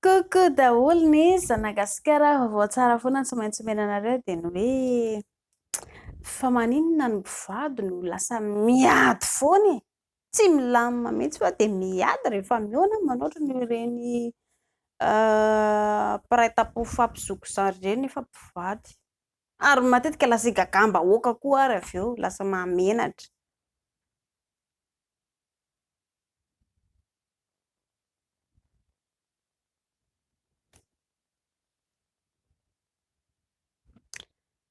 Coucou daholo ny zanagasikara vaovao tsara foana tsy maintsy omena anareo dia ny hoe fa maninona ny mpivady no lasa miady foana e? tsy milamina mihitsy fa dia miady rehefa mihaona manoatra noho ireny mpiray tampo fampizoko zandry ireny nefa mpivady ary matetika lasa igagam-bahoaka koa ary avy eo lasa mahamenatra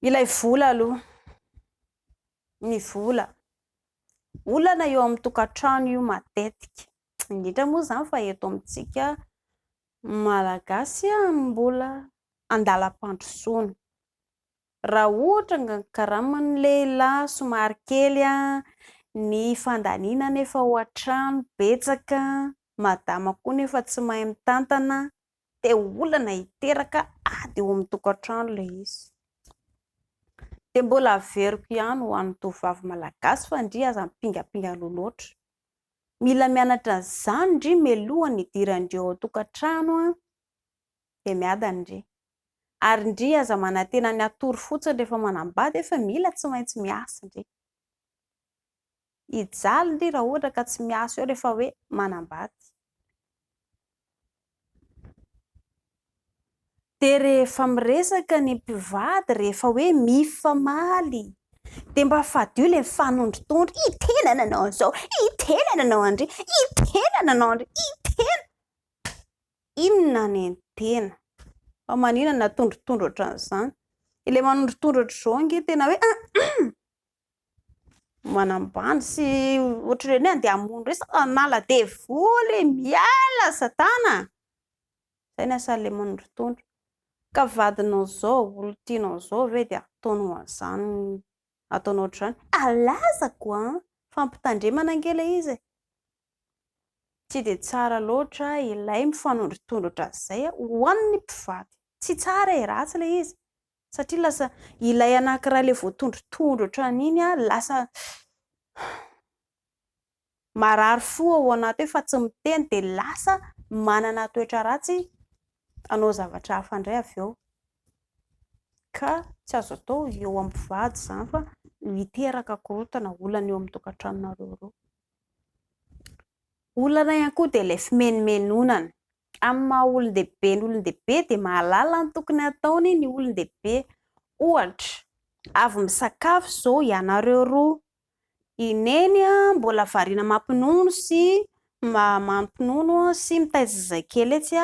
Ilay vola aloha, ny vola, olana eo amin'ny tokantrano io matetika, indrindra moa izany fa eto amintsika Malagasy mbola andalam-pandrosoana. Raha ohatra nga ny karaman'ny lehilahy somary kely an, ny fandaniana anefa ao an-trano betsaka, madama koa nefa tsy mahay mitantana dia olana hiteraka ady eo amin'ny tokantrano ilay izy. Dia mbola averiko ihany ho an'ny tovovavy malagasy fa ndry aza mipingampinga aloha loatra. Mila mianatra an'izany ndry mialoha ny hidirandry ao an-tokantrano dia miadany ndry. ary ndry aza manantena ny hatory fotsiny rehefa manambady hoe fa mila tsy maintsy miasa ndry hijaly ndry raha ohatra ka tsy miasa eo rehefa hoe manambady dia rehefa miresaka ny mpivady rehefa hoe mifamaly dia mba fadio ilay mifanondrotondro i tena nanao an'izao i tena nanao an'ndry i tena nanao an'ndry i tena inona ny tena? Fa maninona no atondrotondro ohatran'izany? Ilay manondrotondro ohatr'izao ange tena hoe manambany sy ohatr'ireny hoe handeha hamono resaka hanala devoly, miala satana. Izay ny asan'ilay manondrotondro. Ka vadinao izao, olona tianao izao ve dia ataonao an'izany, ataonao ohatr'izany? Alazako an! Fampitandremana ange ilay izy e! Tsy dia tsara loatra ilay mifanondrotondrotra izay ho an'ny mpivady. Tsy tsara e, ratsy ilay izy. Satria lasa ilay anankiray ilay voatondrotondrotra an'iny lasa marary fo ao anaty hoe fa tsy miteny dia lasa manana toetra ratsy hanao zavatra hafa indray avy eo. Ka tsy azo atao eo amin'ny mpivady izany fa miteraka korontana, olana eo amin'ny tokantranonareo roa. Olana ihany koa dia ilay fimenomenonana. Amin'ny maha olon-dehibe ny olon-dehibe dia mahalala ny tokony hataony ny olon-dehibe. Ohatra, avy misakafo izao ianareo roa, i Neny mbola variana mampinono sy mampinono sy mitaiza zazakely etsy,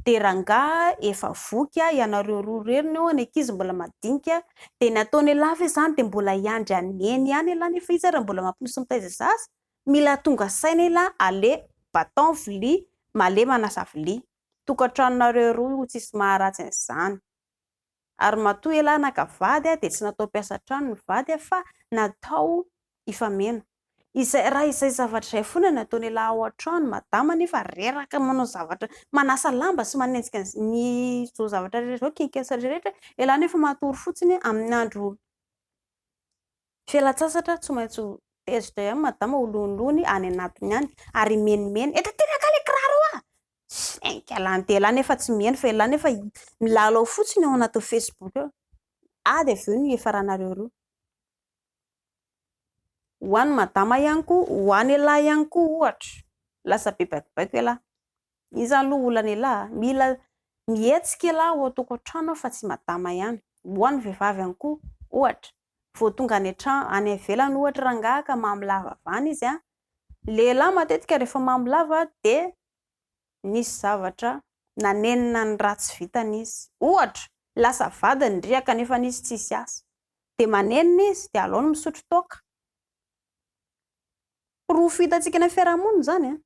de rangaha efa voky a ianareo roa reriny eo ny ankizy mbola madinika de ny ataony elah ve zany de mbola hiandry an'i neny ihany elah nefa izy ary mbola mampinisy mitaiza zaza mila tonga saina elah ale baton vilia male manasa vilia tokantranonareo roa io tsisy maharatsy an'izany ary matoa elah naka vady dia tsy natao mpiasa an-trano ny vady fa natao hifameno. Izay raha izay zavatra izay fona no ataon'elah ao an-trano, madama anefa reraka manao zavatra, manasa lamba sy manenjika ny izao zavatra rehetra izao, kiak'asa rehetra, elah anefa matory fotsiny amin'ny andro Fialan-tsasatra tsy maintsy ho tezitra ihany madama ho lonolony any anatiny any ary himenimeny eto aty angaha le kiraro a! Saingy lany dia lany nefa tsy miheno fa ilay nefa milalao fotsiny ao anatin'ny facebook ao. Ady avy eo ny hiafaranareo roa. Ho an'i madama ihany koa, ho an'ialahy ihany koa ohatra. Lasa be baikobaiko ialahy. Iny izany aloha olan'ialahy. Mila mihetsika ialahy ao an-tokantrano fa tsy i madama ihany. Ho an'ny vehivavy ihany koa ohatra. vao tonga any an-trano, any ivelany ohatra rangahy ka mamy lava avy any izy an, lehilahy matetika rehefa mamy lava dia nisy zavatra nanenina ny ratsy vitany izy, ohatra lasa vadiny ny riaka nefa izy tsisy asa, dia manenina izy dia aleony misotro toaka. Porofo hitantsika any amin'ny fiarahamonina izany an.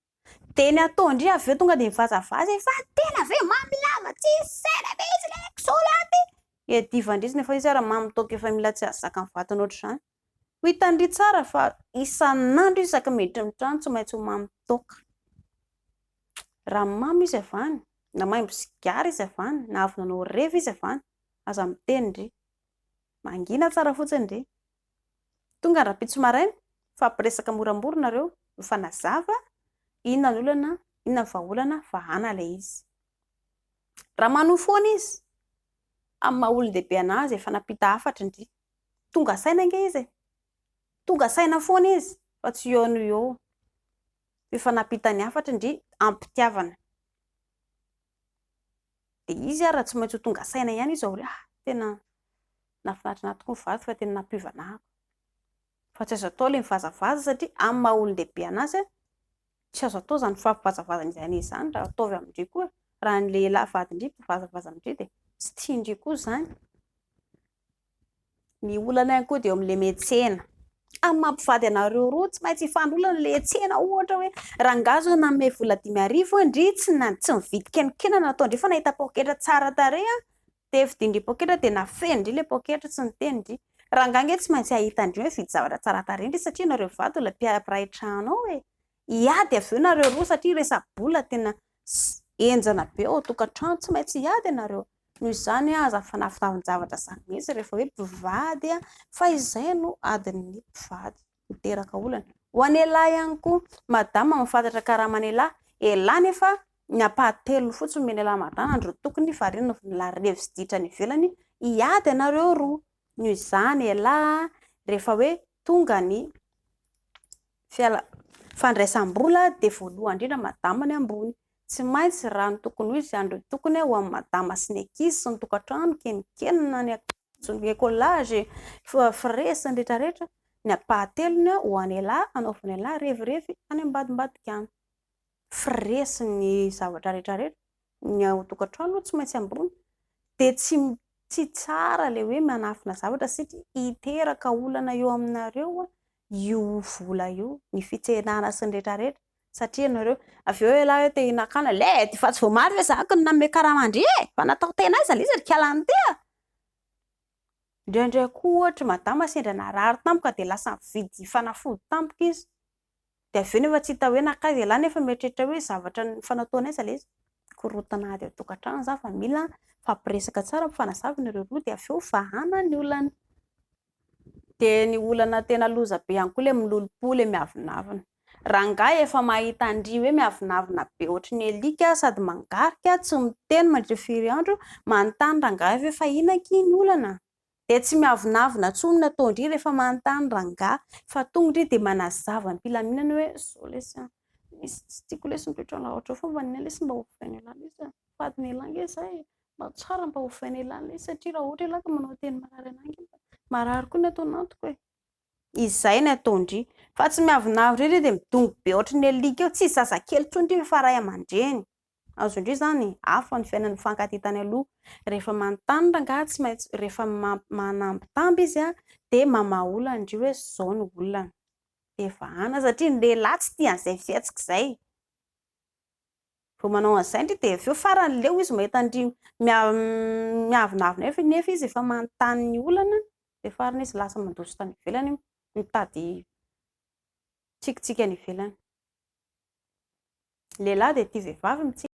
Dia ny atao indray avy eo tonga dia mivazavaza hoe fa tena ve mamy lava tsisy saina mihitsy ilay kisoraty. Dia divan-dry nefa izy ary mamy toaka efa mila tsy azo zakan'ny vatana ohatr'izany. Ho hitan-dry tsara fa isan'andro izy isaky ny miditra ny trano tsy maintsy ho mamy toaka. Raha mamy izy avy any, na maimbo sigara izy avy any, na avy nanao revy izy avy any, aza miteny ndry. Mangina tsara fotsiny ndry. Tonga rahampitso maraina, mifampiresaka moramora nareo, mifanazava, inona ny olana, inona ny vahaolana, vahana ilay izy. Raha manohy foana izy, amin'ny maha olon-dehibe an'azy, efa nampita hafatra ndry. Tonga saina ange izy e! Tonga saina foana izy fa tsy eo no eo. Efa nampita ny hafatra ndry, am-pitiavana. dia izy ary raha tsy maintsy ho tonga saina ihany izy aoriana, ah, tena nahafinaritra ahy tokoa ny vadiko fa tena nampiovana ahy, fa tsy azo atao ilay mivazavaza satria amin'ny maha olon-dehibe an'azy an, tsy azo atao izany fampivazavazan'izy anie izany raha ataovy amin-dry koa, raha ny lehilahy vadin-dry mpivazavaza amin-dry dia tsy tian-dry koa izany. Ny olana ihany koa dia eo amin'ilay metsena. Amin'ny maha mpivady anareo roa, tsy maintsy hifandray olana ilay hetsena. Ohatra hoe, rangahy izao nanome vola dimy arivo an, ndry tsy na- tsy nividy kenikely nataony ndry fa nahita poketra tsara tarehy an, dia vidian-dry poketra dia nafenin-dry ilay poketra tsy niteny-dry. Rangahy ange tsy maintsy hahita an-dry hoe hividy zavatra tsara tarehy ndry satria ianareo mivady ho lay mpiray trano ao e. Hiady avy eo nareo roa satria resa-bola tena henjana be ao an-tokantrano, tsy maintsy hiady ianareo. Noho izany, aza fanafinafin-javatra izany mihitsy rehefa hoe mpivady, fa izay no adin'ny mpivady. Miteraka olana. Ho an'ialahy ihany koa, madama mahafantatra karaman'ialahy. Ialahy nefa ny ampahatelony fotsiny omena ialahy madama ny roa tokony fa ireo no lary revy sy ditra any ivelany hiady ianareo roa. Noho izany ialahy, rehefa hoe Tonga ny fiala fandraisam-bola dia voalohany indrindra madama ny ambony. Tsy maintsy raha ny tokony ho izy izany ireo tokony ho an'ny madama sy ny ankizy sy ny tokantrano, keminkenina, ny akanjo, ny écolage, frais sy ny rehetra rehetra, ny ampahatelony ho an'ialahy, anaovan'ialahy revirevy any ambadimbadika any. frais sy ny zavatra rehetra rehetra, ny ao tokantrano aloha tsy maintsy ambony, dia tsy tsy tsara ilay hoe manafina zavatra satria hiteraka olana eo aminareo io vola io, ny fitsenana sy ny rehetra rehetra satria ianareo, avy eo ialahy hoe te hinakana, led! efa tsy voamaly ve zaka no nanome karama an-dry e! efa natao tena aiza ilay izy ry kialahy ny tia? indraindray koa ohatra i madama sendra narary tampoka dia lasa nividy fanafody tampoka izy dia avy eo nefa tsy hita hoe nankaiza ialahy nefa mieritreritra hoe zavatra nifanatohan'ny aiza ilay izy, korontana ady ao an-tokantrano za fa mila mifampiresaka tsara ampifanazavina ireo roa dia avy eo vahana ny olana, dia ny olana tena loza be ihany koa ilay milolompo ilay miavonavona, rangahy efa mahita an-dry hoe miavonavona be ohatry ny alika sady mangarika tsy miteny mandritry ny firy andro, manontany rangahy hoe fa inona akia ny olana? Dia tsy miavonavona tsony nataondry rehefa manontany rangahy fa tonga ndry dia manazava ny filaminana hoe zao lesy an, misy tsy tiako lesy ny toetran laotra fa mba anina lesy mba ovaina elah lesy an, fadiny elah ange zah e, mba tsara mba ovaina elah lesy satria raha ohatra elah ka manao teny marary anah ange mba marary koa ny ato anatiko e. Izay ny ataondry fa tsy miavonavona ery dia midongy be ohatry ny alika eo, tsy zazakely tsony ndry fa ray aman-dreny. Azo indray izany e! Hafa ny fiainan'ny mifankatia tany aloha. Rehefa manontany rangahy tsy maintsy rehefa manambitamby izy dia mamaha olana indry hoe izao no olana. Dia vahana satria ny lehilahy tsy tia an'izay fihetsika izay. Vao manao an'izay indry dia avy eo farany leo izy mahita an-dry miavonavona eo nefa izy efa manontany ny olana dia farany izy lasa mandositra any ivelany mitady Tsikitsiky any ivelany. Lehilahy dia tia vehivavy mitsiky.